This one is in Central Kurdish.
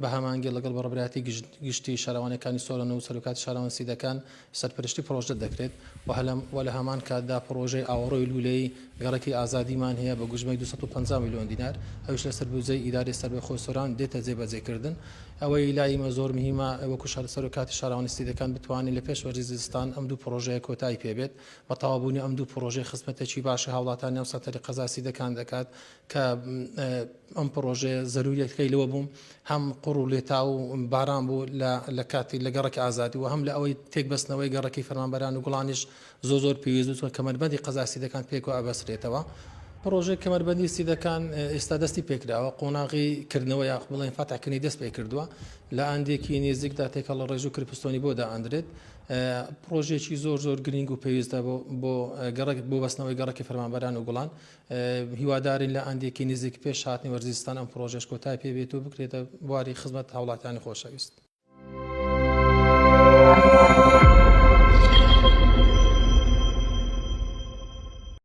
بە هەمانگی لەگەڵ بەڕێبەرایەتی گشتی شارەوانیەکانی سۆران و سەرۆکاتی شارەوان سیدەکان سەرپەرشتی پڕۆژە دەکرێت و لە هەمان کاتدا پڕۆژەی ئاوەڕۆی لوولەی گەڕەکی ئازادیمان هەیە بە گوژمەی دوو سەد و پەنجا ملیۆن دینار ئەویش لەسەر بودجەی ئیدارەی سەربەخۆی سۆران دێتە جێبەجێکردن ئەوەی لای ئیمە زۆر مهیمە وەکو سەرۆکاتی شارەوانی سیدەکان بتوانین لە پێش وەرزی زستان ئەم دوو پڕۆژەیە کۆتایی پێبێت بە تەوابوونی ئەم دوو پڕۆژەی خزمەتێکی باشی هاوڵاتانی ئەم سەنتەری قەزای سیدەکان دەکات کە ئەم پڕۆژەیە زەروریەتەکەی لەوە بووم هەم قوڕ و لێتا و باران بوو لە کاتی لە گەڕەکی ئازادی و هەم لە ئەوەی تێکبەستنەوەی گەڕەکی فەرمانبەران و گوڵانیش زۆ زۆر پێویستوە کەمەربەندی قەزاسی دەکان پێکەوە ئەبەسرێتەوە. پڕۆژەی کەمەربەندی سیدەکان ئێستا دەستی پێکراوە قۆناغی کردنەوە یاخ بڵێن فاتحکردنی دەست پێکردووە لە ئاندێکی نێزیکدا تێکەڵە ڕێژ و کرپستۆنی بۆ دائەندرێت پڕۆژێکی زۆر زۆر گرنگ و پێویستە بۆ بۆ گەڕک بۆ بەستنەوەی گەڕکی فەرمانبەران و گوڵان هیوادارین لە ئاندێکی نزیک پێش هاتنی وەرزی زستان ئەم پڕۆژەش کۆتای پێ بێت و بکرێتە بواری خزمەت هاوڵاتیانی خۆشەویست.